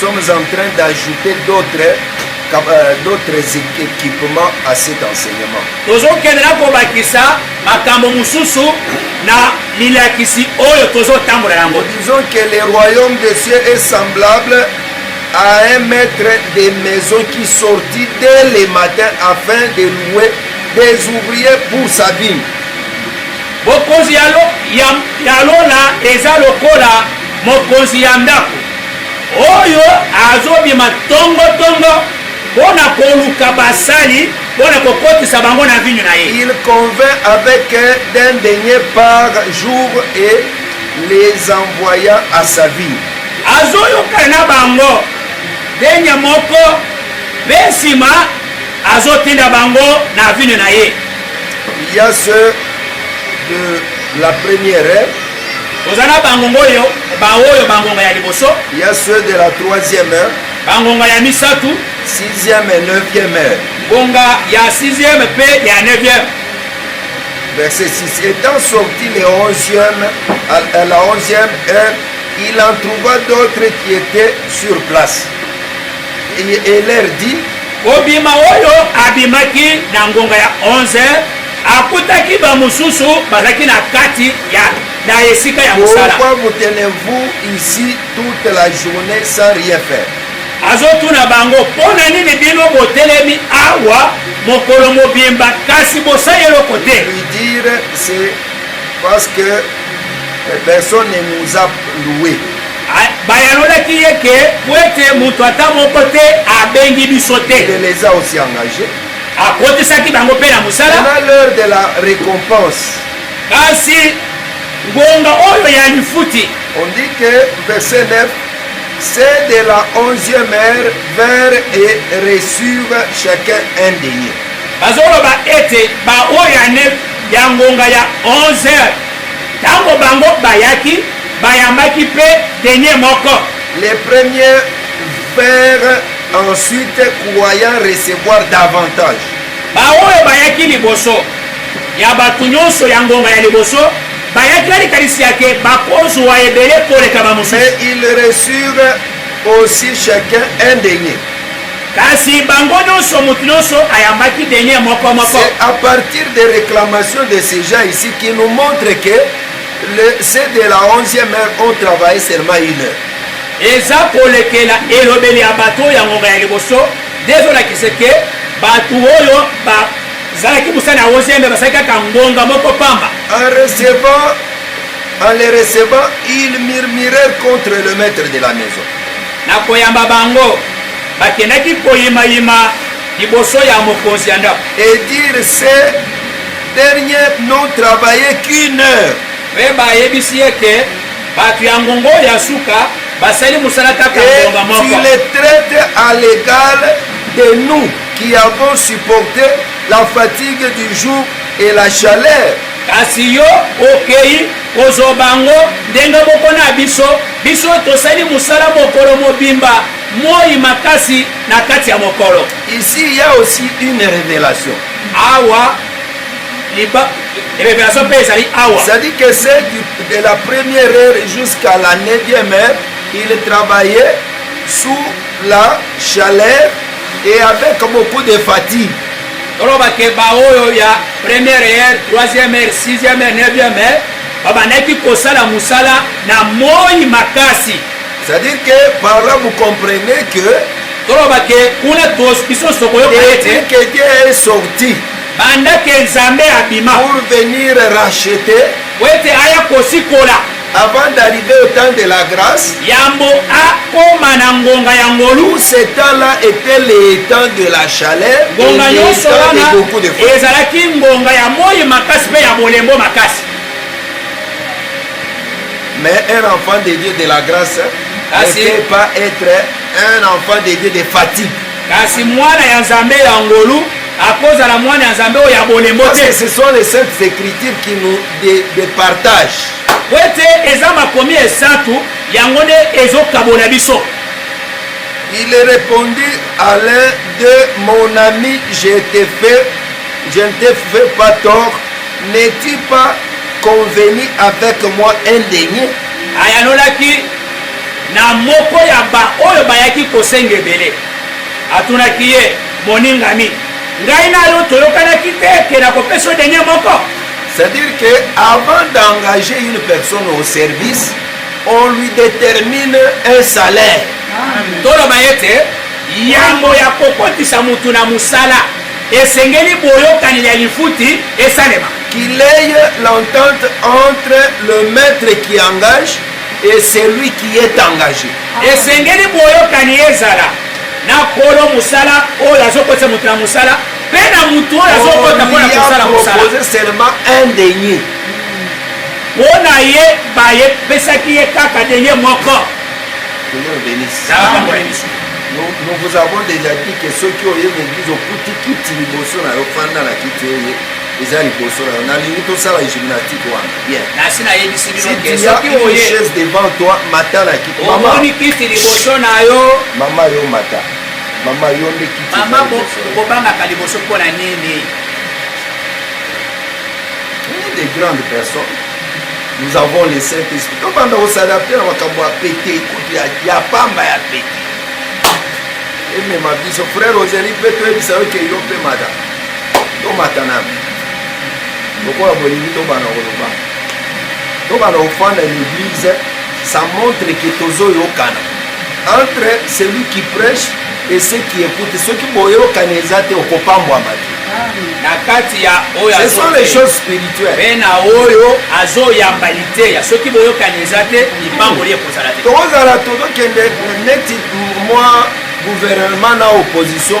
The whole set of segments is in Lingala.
sommes en train d'ajouter d'autres euh, d'autres équipements à cet enseignement. tozokende na kobakisa makambo mosusu na milakisi oyo tozotambola yango disons que le royaume de cieux est semblable à un maître des maisons qui sortit dès le matin afin de louer des ouvriers pour sa vie bokonzi ya lola eza lokola mokonzi ya ndako oyo azobima tongotongo mpo na koluka basali mpo na kokotisa bango na vinyo na ye il convint avec d'un denier par jour et les envoyant à sa vie azoyoka na bango denya moko mpe nsima azotinda bango na vinyo na ye il y a ceux de la première Oza na bangonga oyo baoyo bangonga ya liboso ya ceux de la troisième heure bangonga ya misato sixième et neuvième heure ngonga ya sixième mpe ya neuvième verset 6 étant sorti le onzième à la onzième heure il en trouva d'autres qui étaient sur place et, et leur dit kobima oyo abimaki na ngonga ya 11 heure Akutaki bamosusu bazalaki na kati ya na esika ya mosala. Pourquoi vous tenez-vous ici toute la journée sans rien faire? Azotuna bango mpo na nini bino botelemi awa mokolo mobimba kasi bosali eloko te? Lui dire c'est parce que eh, personne ne nous a loué. bayanolaki ye ke po ete moto ata moko te abengi biso te. Il les a aussi engagés. akotisaki bango mpe na mosala na l'heure de la récompense kasi ngonga oyo ya lifuti on dit que verset 9 c'est de la onzième heure vers et reçuve chacun un denier bazoloba ete baoyo ane ya ngonga ya 11 heures ntango bango bayaki bayambaki mpe denier moko les premiers vers Ensuite, croyant recevoir davantage. Baoyo bayaki liboso ya bato nyonso ya ngonga ya liboso bayaki na likanisi ya ke bakozwa ebele koleka bamosusu. Mais ils reçurent aussi chacun un denier. Kasi bango nyonso, moto nyonso ayambaki denier moko moko. C'est à partir des réclamations de ces gens ici qui nous montrent que le, ceux de la 11e heure ont travaillé seulement une heure. Eza kolekela elobeli ya bato ya ngonga ya liboso nde ezolakisa ete bato oyo bazalaki mosala ya ozieme basali kaka ngonga moko pamba. En recevant, en les recevant, ils murmurèrent contre le maître de la maison. Na koyamba bango, bakendaki koyimayima liboso ya mokonzi ya ndako. Et dire ces derniers n'ont travaillé qu'une heure. Mpe bayebisi ye ke Batu ya ngongo ya suka basali musala kaka ngonga moko. Et il est traite à l'égal de nous qui avons supporté la fatigue du jour et la chaleur. Kasi yo okei kozwa bango ndenge moko na biso, biso tosali musala mokolo mobimba moi makasi na kati ya mokolo. Ici il y a aussi une révélation. Awa liba révélation mpe ezali awa c'est-à-dire que c'est de la première heure jusqu'à la neuvième heure il travaillait sous la chaleur et avec beaucoup de fatigue toloba ke baoyo ya première heure troisième heure sixième heure neuvième heure babandaki kosala mosala na moi makasi c'est-à-dire que par là vous comprenez que toloba ke kuna biso nyonso tokoyoka ete que Dieu est sorti Banda ke Nzambe abima. Pour venir racheter. Mpo ete aya kosikola. Avant d'arriver au temps de la grâce. Yambo akoma na ngonga ya ngolu. Tout ce temps-là était le temps de la chaleur. Ngonga nyonso wana ezalaki ngonga ya moi makasi mpe ya bolembo makasi. Mais un enfant de Dieu de la grâce ah, ne peut pas être un enfant de Dieu de fatigue. kasi mwana ya nzambe ya ngolu akozala mwana ya nzambe oyo ya bolembo te ce sont les saintes écritures qui nous départage po ete eza makomi esatu yango nde ezokabola biso il est répondu à l'un de mon ami je te fais je ne te fais pas tort n'es-tu pas convenu avec moi un denier ayanolaki na moko ya baoyo bayaki kosenga ebele atunaki ye Moningami, ngai na yo toyokanaki te ke nakopesa yo denye moko. C'est-à-dire que avant d'engager une personne au service, on lui détermine un salaire. Toloba ete yambo ya kokotisa motu na mosala esengeli boyokani ya lifuti esalema. Qu'il ait l'entente entre le maître qui engage et celui qui est engage esengeli boyokani ezala na kolo mosala oyo azokotisa moto na mosala mpe na moto oyo azokota mpo na kosala mosala seulement un denier mpo na ye baye pesaki ye kaka denier moko nous vous avons déjà dit que soki oye na église okuti kiti liboso na yo fanda na kiti eye eza liboso na yo nalingi tosala gymnastique wana bien nasi nayebisi bino ke soki oye chaise devant toi mata na kiti mama omoni kiti liboso na yo mama yo mata mama yo nde kiti mama kobangaka liboso mpo na nini des grandes personnes nous avons le saint esprit tobanda kosadapte na makambo ya pete ekutu ya pamba ya pete emema biso frère ozali mpe toyebisa yo ke yo mpe madame tomata na lokola bolingi tobana koloba tobana kofanda na église ça montre que tozoyokana entre celui qui prêche et ceux qui écoutent soki boyokana eza te okopambwama te na kati ya oyo ce sont les choses spirituelles mpe na oyo azoyamba liteya soki boyokani eza te lipamboli ekozala te tokozala tozokende neti mwa gouvernement na opposition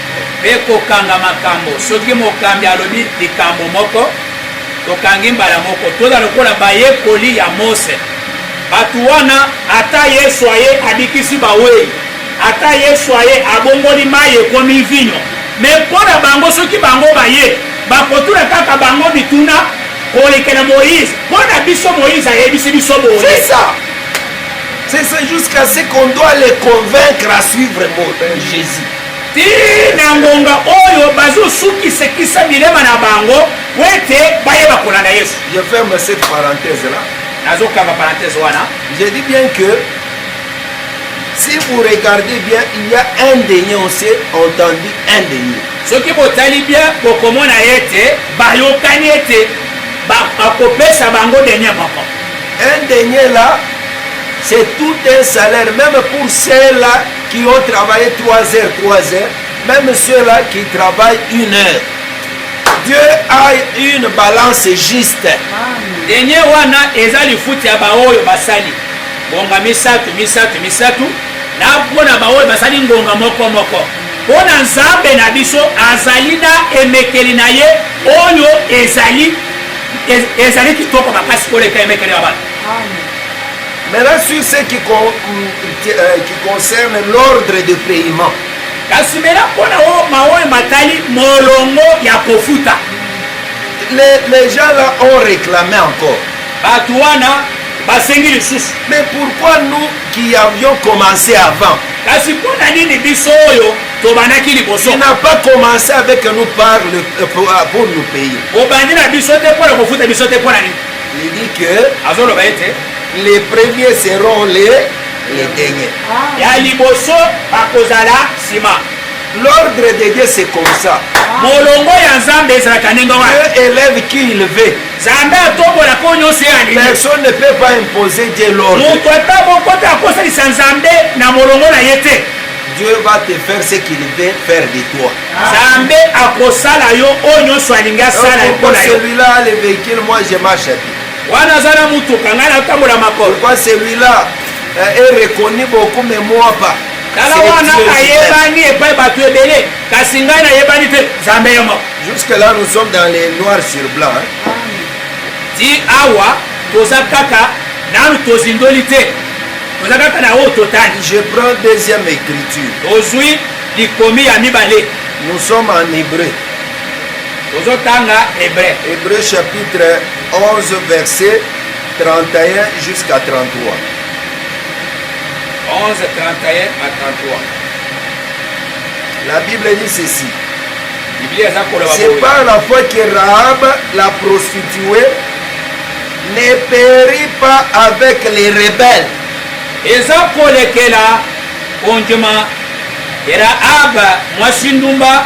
mpe kokanga makambo. Soki mokambi alobi likambo moko, tokangi mbala moko. Toza lokola bayekoli ya Mose. Bato wana, ata Yesu aye abikisi bawei, ata Yesu aye abongoli mai ekomi vinyo, me mpo na bango, soki bango baye bakotuna kaka bango mituna kolekela Moïse. Mpo na biso, Moïse ayebisi biso boye. C'est jusqu'à ce qu'on doit les convaincre à suivre Jésus. Tii na ngonga oyo bazosukisekisa bilema na bango po ete bayeba kolanda Yesu. Je ferme cette parenthèse là. Nazokanga parenthèse wana. Je dis bien que si vous regardez bien, il y a un denier, on s'est entendu un denier. soki botali bien bokomona ete bayokani ete bakopesa bango denier moko un denier là c'est tout un salaire même pour cela qui ont travaillé 3 heures, 3 heures, même ceux-là qui travaillent une heure. Dieu a une balance juste. Denye wana eza lifuti ya baoyo basali ngonga misato misato misato na mpo na baoyo basali ngonga moko moko mpo na nzambe na biso azali na emekeli na ye oyo ezali ezali kitoko makasi koleka emekeli ya bato Maintenant sur ce qui, con, euh, qui concerne l'ordre de paiement. kasi mela mpona oyo maoyo matali molongo ya kofuta les, les gens là ont réclamé encore bato wana basengi lisusu mais pourquoi nous qui avions commencé avant kasi mpo na nini biso oyo tobandaki liboso il n'a pas commencé avec nous par le, euh, pour, euh, pour nous payer obandi na biso te mpo na kofuta biso te mpo na nini Il dit que azoloba ete les premiers seront les les derniers. Ah. Ya liboso bakozala sima. L'ordre de Dieu c'est comme ça. Ah. Molongo ya Nzambe ezalaka ndenge wana. Dieu élève qui il veut. Nzambe atombola ko nyonso ye alingi. Personne ne peut pas imposer Dieu l'ordre. Moto ata moko te akosalisa Nzambe na molongo na ye te. Dieu va te faire ce qu'il veut faire de toi. Nzambe akosala yo oyo nyonso alingi asala mpo na yo. Wana aza na motuka ngai natambola makolo. Tala wana ayebani epai bato ebele kasi ngai nayebani te Nzambe yo moko. Jusque là nous sommes dans les noirs sur blanc. Ti awa toza kaka nanu tozindoli te toza kaka na oyo totali. Je prends deuxième écriture. Ozwi Likomi ya mibale. Nous sommes en hébreu. Tozotanga hébreu. Hébreu chapitre 11 verset 31 jusqu'à 33. 11, 31 à 33. La Bible dit ceci. C'est par la foi que Rahab, la prostituée, ne périt pas avec les rebelles. eza kolekela Kondima ya Rahaba mwasi ndumba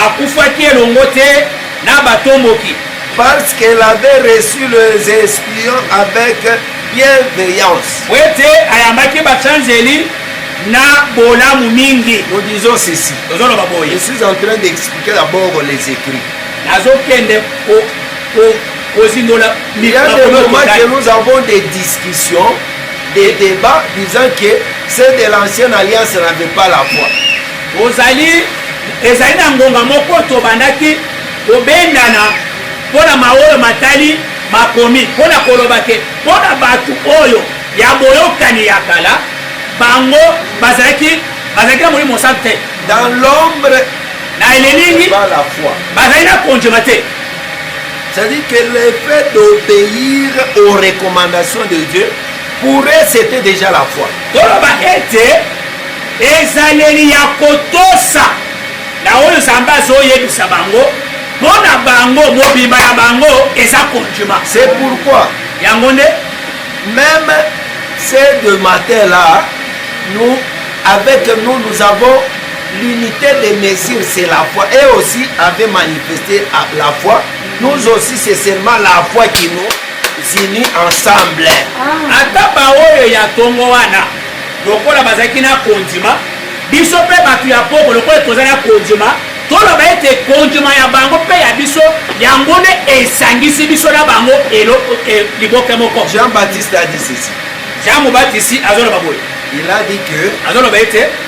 akufaki elongo te na batomboki. Parce qu'elle avait reçu les espions avec bienveillance. Mpo ete ayambaki bachanzeli na bolamu mingi. Nous disons ceci. Tozoloba boye. Je suis en train d'expliquer d'abord les écrits. Nazokende ko ko kozindola. Il y a des moments que nous avons des discussions. des débats disant que ceux de l'ancienne alliance n'avaient pas la voix. ozali ezali na ngonga moko tobandaki kobendana mpo na maoyo matali makomi mpo na koloba te mpo na bato oyo ya boyokani ya kala bango bazalaki bazalaki na molimo mosantu te dans l'ombre na elilingi bazali na kondima te C'est-à-dire que le fait d'obéir aux recommandations de Dieu, pour eux, c'était déjà la foi. toloba ete ezaleli ya kotosa na oyo nzambe azoyebisa bango mpo na bango mobimba ya bango eza kondima c'est pourquoi yango nde même ce de matin là nous avec nous nous avons L'unité de mesure, c'est la foi. Et aussi avait manifesté la foi. Nous aussi, c'est seulement la foi qui nous unit ensemble. Ah. Ata baoyo ya tongo wana lokola bazalaki na kondima biso mpe bato ya poko lokola toza na kondima toloba ete kondima ya bango mpe ya biso yango nde esangisi biso na bango eloko e, liboke moko jean baptiste adisisi jean mobatisi azoloba boye il a dit que azoloba ete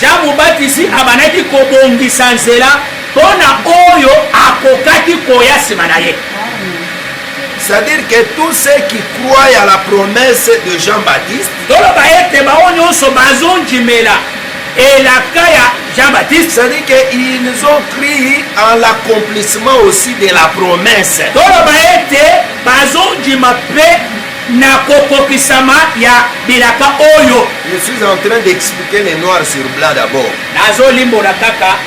Jean Mobatisi abandaki kobongisa nzela mpo na oyo akokaki koya nsima na ye. C'est-à-dire que tous ceux qui croient à la promesse de Jean-Baptiste, toloba ete bango nyonso bazondimela elaka ya Jean-Baptiste, c'est-à-dire qu'ils ont cru en l'accomplissement aussi de la promesse. toloba ete bazondima mpe na kokokisama ya bilaka oyo. Je suis en train d'expliquer le noir sur blanc d'abord. Nazolimbola kaka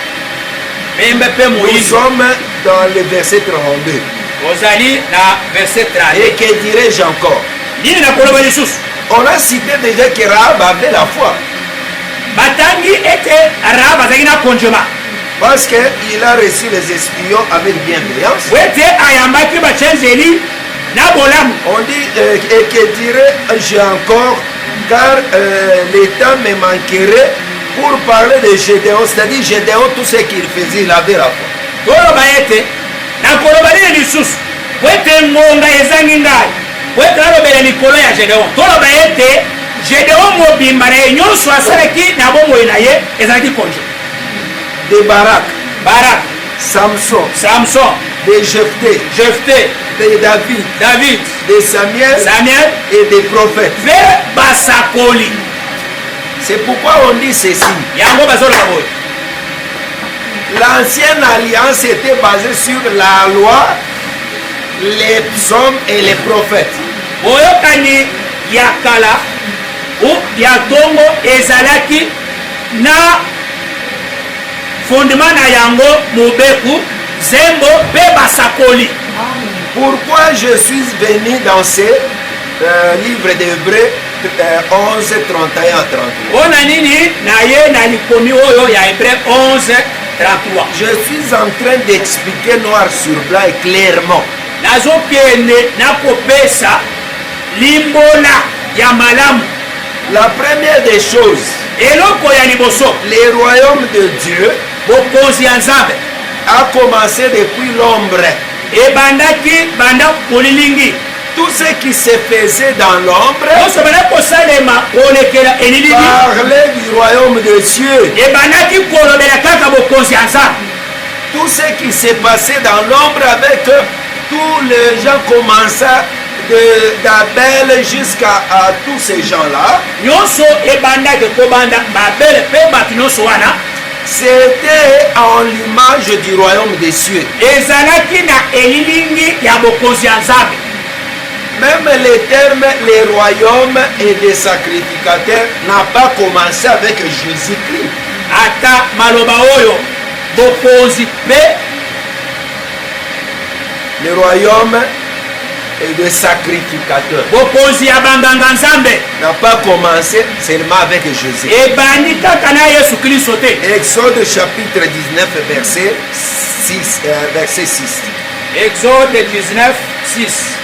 pembe mpe moyindo. Nous sommes dans le verset 32. Ozali na verset 32. Et que dirais-je encore? Nini nakoloba lisusu? On a cité déjà que Rahab avait la foi. Batangi ete Rahab azalaki na kondima. Parce qu'il a reçu les espions avec bienveillance. Wete ayambaki bachanzeli na bolamu on dit euh, et que dirais j'ai encore car euh, l'état me manquerait pour parler de Gédéon c'est-à-dire Gédéon tout ce qu'il faisait il avait la foi toloba ete nakoloba nini lisusu po ete ngonga ezangi ngai po ete nalobela likolo ya Gédéon toloba ete Gédéon mobimba na ye nyonso asalaki na bomoi na ye ezalaki konje de barak barak Samson. Samson. De Jephthé. Jephthé. De David. David. De Samuel. Samuel. Et des prophètes. Mpe basakoli. C'est pourquoi on dit ceci. Yango bazoloba boye. L'ancienne alliance était basée sur la loi, les psaumes et les prophètes. Boyokani ya kala ou ya tongo ezalaki na Fondement na yango mobeko, zembo pe basakoli. Pourquoi je suis venu dans ce euh, livre d'Hébreux euh, 11, 31 à 33 Pona nini naye na likomi oyo ya Hébreux 11, 33 Je suis en train d'expliquer noir sur blanc et clairement nazokende nakopesa limbola ya malamu La première des choses, eloko ya liboso, le royaume de Dieu bokonzi ya Nzambe a commencé depuis l'ombre. ebandaki banda bolilingi Tout ce qui se faisait dans l'ombre nyonso ebandaki kosalema kolekela elilingi parlait du royaume de Dieu. ebandaki kolobela kaka bokonzi ya Nzambe Tout ce qui s'est passé dans l'ombre avec eux, tous les gens commençaient de Dabel jusqu'à uh, tous ces gens-là. Nyonso ebandaki kobanda Babel mpe bato nyonso wana. C'était en l'image du royaume des cieux. Ezalaki na elilingi ya bokonzi ya Nzambe. Même les termes les royaumes et des sacrificateurs n'a pas commencé avec Jésus-Christ. Ata maloba oyo bokonzi mpe le royaume et de sacrificateur. Bokonzi ya banganga Nzambe n'a pas commencé seulement avec Jésus. Ebandi kaka na Yesu Kristo te. Exode chapitre 19 verset 6 euh, verset 6. Exode 19 6.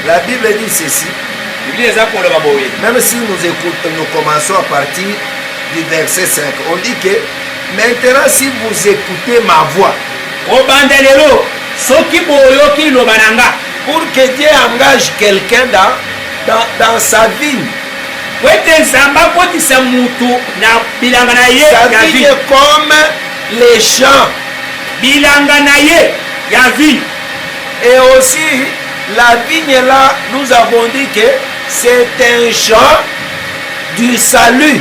La Bible dit ceci. Biblia eza koloba boye. Même si nous écoutons, nous commençons à partir du verset 5. On dit que Maintenant si vous ecoutez ma voix. Kobanda lelo soki boyoki liloba na nga. Pour que Dieu engage quelqu'un dans, dans, dans sa vie. Po ete Nzambe akotisa mutu na bilanga na ye ya vie. Sa vie est comme les champs. Bilanga na ye ya vie. Et aussi la vigne là, nous avons dit que c'est un champ du salut.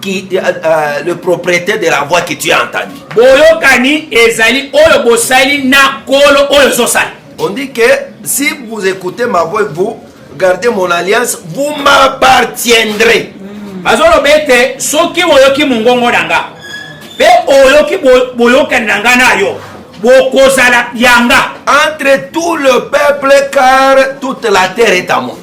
qui, euh, euh, le propriétaire de la voix que tu as entendu. Boyokani ezali oyo bosali na kolo oyo zosali. On dit que si vous écoutez ma voix, vous gardez mon alliance, vous m'appartiendrez. Hmm. Bazoloba ete soki oyoki mongongo na nga mpe oyoki boyokani na nga na yo bokozala yanga entre tout le peuple car toute la terre est à moi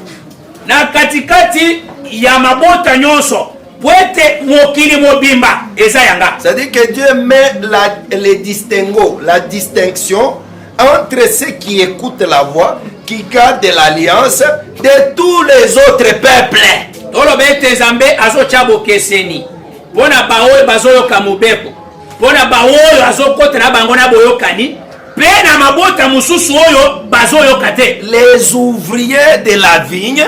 na katikati ya mabota nyonso mpo ete mokili mobimba eza ya nga c'est-à-dire que dieu met la, le distinguo la distinction entre ceux qui écoutent la voix qui gardent l'alliance de tous les autres peuples toloba ete nzambe azotya bokeseni mpo na baoyo bazoyoka mobeko mpo na baoyo azokotela bango na boyokani Mpe na mabota mosusu oyo bazoyoka te. Les ouvriers de la vigne.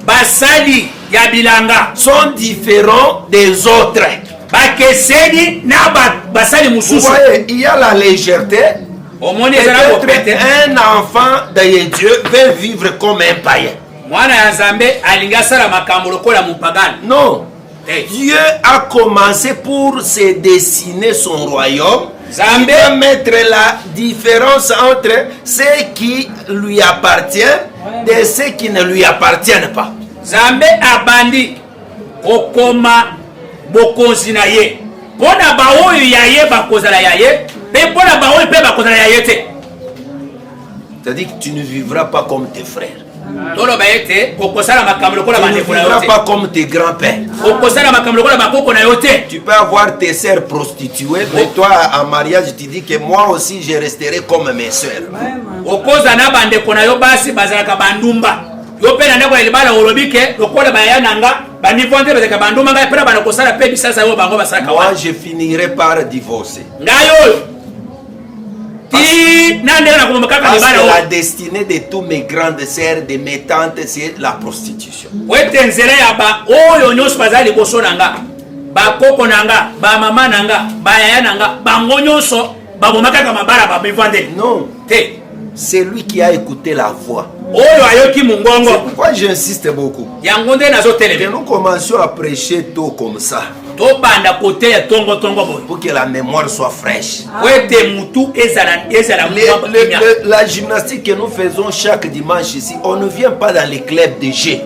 Basali ya bilanga. Sont différents des autres. Bakeseni na basali mosusu. Il y a la légèreté. omoni eza na bopete un enfant de dieu veut vivre comme un païen mwana ya nzambe alingi asala makambo lokola mopagane non Hey. Dieu a commencé pour se dessiner son royaume. Zambé. Il doit mettre la différence entre ce qui lui appartient et ce qui ne lui appartient pas. Zambé a bandit au coma bokonzi na ye mpo na baoyo ya ye bakozala ya ye mpe mpo na baoyo mpe bakozala ya ye te c'est-à-dire que tu ne vivras pas comme tes frères toloba ete okosala makambo lokola bandeko na yo te pas comme tes grands pères okosala makambo lokola bakoko na yo te tu peux avoir tes sœurs prostituées mais toi en mariage tu dis que moi aussi je resterai comme mes sœurs okoza na bandeko na yo basi bazalaka bandumba yo mpe na ndako ya libala olobi ke lokola baya na nga banivo nde bazalaka bandumba ngai mpe na bana kosala mpe bisalisa oyo bango basalaka moi je finirai par divorce ngai oyo la destinée de tous mes grandes sœurs de mes tantes c'est la prostitution wete nzela ya ba oyo nyonso bazali liboso na nga bakoko na nga bamama na nga bayaya na nga bango nyonso baboma kaka mabala bamivandeli non te celui qui a écouté la voix oyo ayoki mongongo pourquoi j'insiste beaucoup yango nde nazoteleme nous commencions à prêcher tôt comme ça tobanda koteya tongotongo boye pour que la mémoire soit fraîche po ete motu ezala ezala la gymnastique que nous faisons chaque dimanche ici on ne vient pas dans les clubs de jeu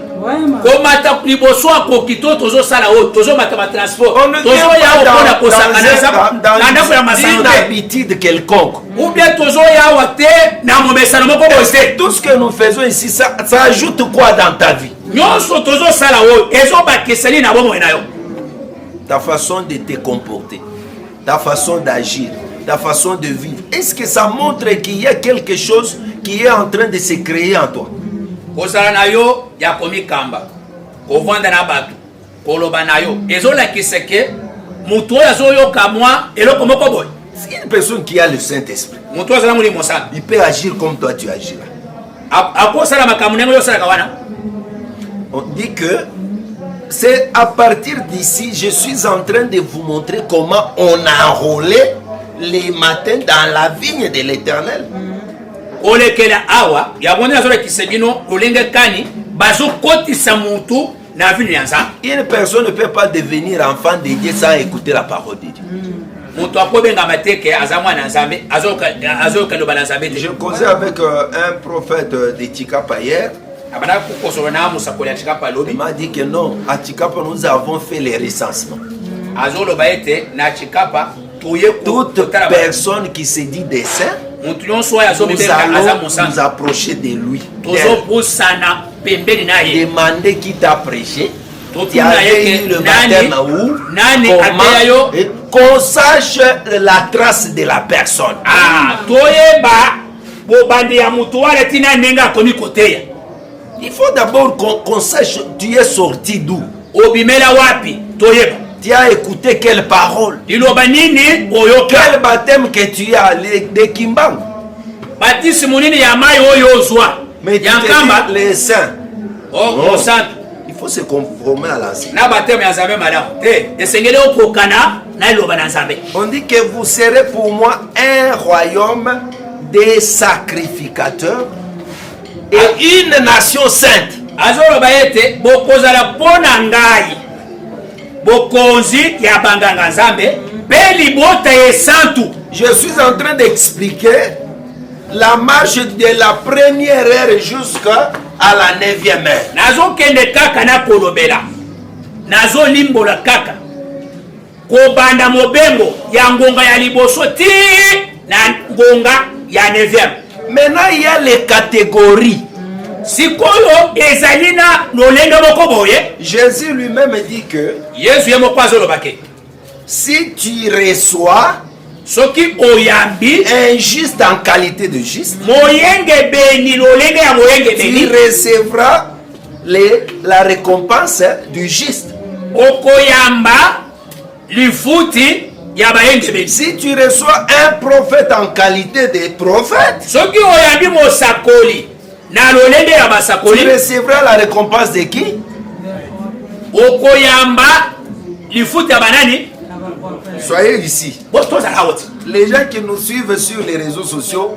komata liboso akoki to tozosala oyo tozomata batransport tozoya opona kosangana na ndako ya masano te habitude quelconque ou bien tozoya awa te na momesano moko boye tout ce que nous faisons ici ça, ça ajoute quoi dans ta vie nyonso tozosala oyo ezobakisani na bomoi na yo ta façon de te comporter ta façon d'agir ta façon de vivre est-ce que ça montre qu'il y a quelque chose qui est en train de se créer en toi kozala na yo ya komikamba kovanda na bato koloba na yo ezolakisa ke moto oyo azoyoka mwa eloko moko boye une personne qui a le saint esprit moto oyo azala molimo sana il peut agir comme toi tu agir akosala makambo ndenge oyo osalaka wana on dit que c'est à partir d'ici je suis en train de vous montrer comment on a enrôlé les matins dans la vigne de l'éternel olekela awa yango nde nazolakisa bino lolenge kani bazokotisa motu na vino ya nzambe une personne ne peut pas devenir enfant de dieu sans écouter la parole de dieu mm. moto akobengama te ke aza mwana ya nzambe azoyoka loba na nzambe te je causais avec euh, un prophète euh, de chikapa hier abanda kokosolo na mosakoli ya chikapa lobi m'a dit que non à chikapa nous avons fait les recensements mm. azoloba ete na chikapa toute personne qui se dit des saints motu nyonso oyo azobetaaza mosantu approcher de lui tozobosana pembeni na ye demande qui t'a prêché totuna ye nani ateya yo qu'on sache la trace de la personne ah, toyeba bobandi ya motu wana ntina ndenge akomi koteya il faut d'abord qu'on qu sache tu es sorti d'où obimela wapi toyeba tu as écouté quelle parole liloba nini oyoka quel baptême que tu as de kimbangu batisimo nini ya mai oyo ozwa ya nkamba les saints osantu oh, il faut se conformer à la na baptême ya nzambe malamu te esengeli okokana na liloba na nzambe on dit que vous serez pour moi un royaume des sacrificateurs et une nation sainte azoloba ete bokozala mpo na ngai bokonzi ya banganga nzambe mpe libota ya esantu je suis en train d'expliquer la marche de la première heure jusqu'à la neuvième heure nazokende kaka nakolobela nazolimbola kaka Kobanda mobembo ya ngonga ya liboso ti na ngonga ya 9e. Maintenant il y a les catégories. sikoyo ezali na lolenge moko boye jésus lui-même dit que yesu ye moko azoloba ke si tu reçois soki oyambi un juste en qualité de juste moyengebeni lolenge ya moyengebeni recevra Le, la recompense du juste. Okoyamba lifuti ya bayengebeli. Si tu reçois un prophète en qualité de prophète. Soki oyambi mosakoli na lolenge ya basakoli. Tu recevras la récompense de qui? Okoyamba lifuti ya banani? Soyez ici. Bos tozala awa. Les gens qui nous suivent sur les réseaux sociaux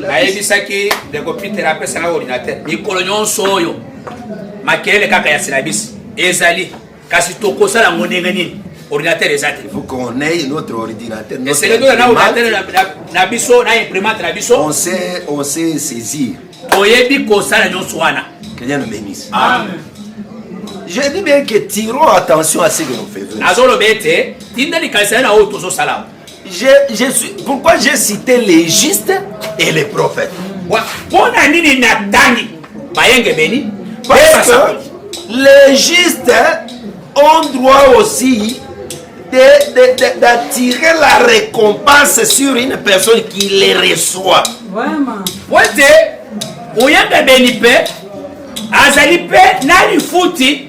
nayebisaki ndeko peter apesaka ordinateur mikolo nyonso oyo makelele kaka ya silabisi ezali kasi tokosala yango ndenge nini ordinateur eza te eseletola na ordinateur na biso na imprimante na biso toyebi kosala nyonso wana Je dis bien que tirons attention à ce que nous faisons. Azolo bete, tinda likanisa na oyo tozosala. je, je suis, pourquoi j'ai cité les justes et les prophètes mpona nini natangi bayengebeni parce que les justes ont droit aussi d'attirer la récompense sur une personne qui les reçoit vraiment wete oyembebeli mpe azali mpe na lifuti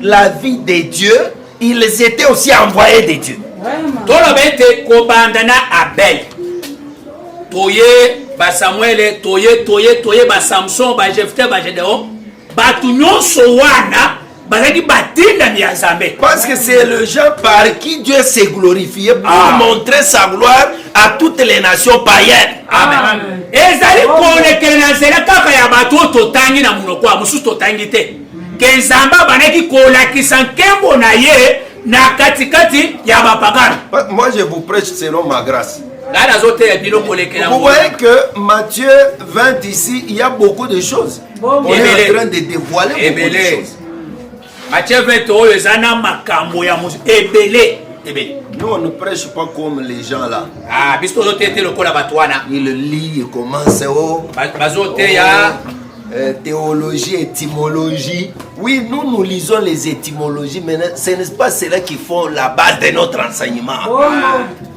la vie de Dieu, ils étaient aussi envoyés de Dieu. toloba ete kobanda na abel toye basamuele toye toye toye basamson bajefte bagedeon bato nyonso wana bazalaki batindami ya nzambe parce que c'est le gens par qui dieu s'est glorifié pour ah. montrer sa gloire à toutes les nations païennes amen, ah. amen. ezali kolekele na nzela kaka ya bato oyo totangi na monoko ya mosusu totangi te ke nzambe abandaki kolakisa nkembo na ye na katikati ya bapagano moi je vous prêche selon ma grâce ngai nazoteya bino kolekela vous voyez que matthieu 20 ici il y a beaucoup de choses bon, on est en train de dévoiler beaucoup de choses matthieu 20 oyo eza na makambo ya mosu ebele ebele Nous, on ne prêche pas comme les gens là. Ah, biso tozoteya te lokola bato wana. Il lit, il commence, oh. Bazoteya. Oh. Euh, théologie, étymologie. Oui, nous, nous lisons les étymologies, mais ce n'est pas cela qui font la base de notre enseignement. Oh.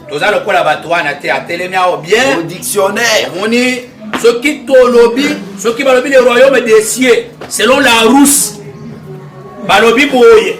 toza lokola bato wana te atelemi ao bien dictionnaire omoni soki tolobi soki balobi le royaume des cieux selon la russe balobi boye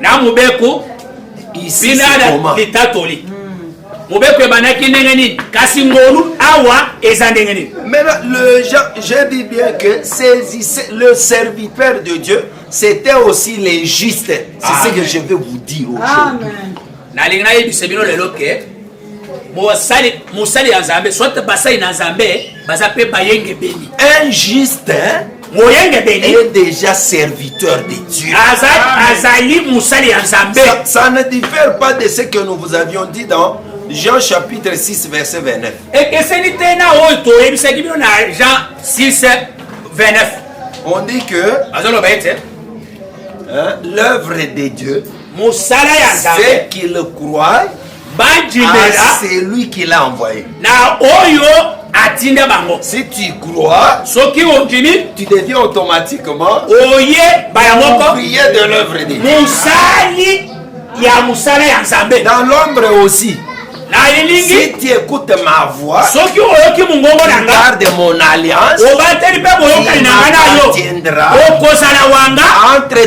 na mobeko binada litatoli hmm. mobeko ebandaki ndenge nini kasi ngolu awa eza ndenge nini maintenant le j'ai dit bien que saisissez le serviteur de dieu c'était aussi les justes c'est ce que je veux vous dire aujourd'hui nalingi nayebisa bino lelo ke mosali mosali ya nzambe soit basali na nzambe baza mpe bayengebeni un juste moyengebeni est déjà serviteur de dieu azali mosali ya nzambe ça ne diffère pas de ce que nous vous avions dit dans Jean chapitre 6 verset 29 ekeseni te na oyo toyebisaki bino na Jean 6 29 on dit que azoloba ete l'œuvre de dieu mosala ya nzambe ce qu'il croit bandimela ah, celui qui l'a envoyé na oyo atinda bango si tu crois soki ondimi tu deviens automatiquement oye baya moko prier de l'œuvre de mosali ya mosala ya nzambe dans l'ombre aussi nayelingi si tu écoutes ma voix soki oyoki mongongo na nga garde mon alliance obateli mpe boyokani na nga na yo okozala wanga entre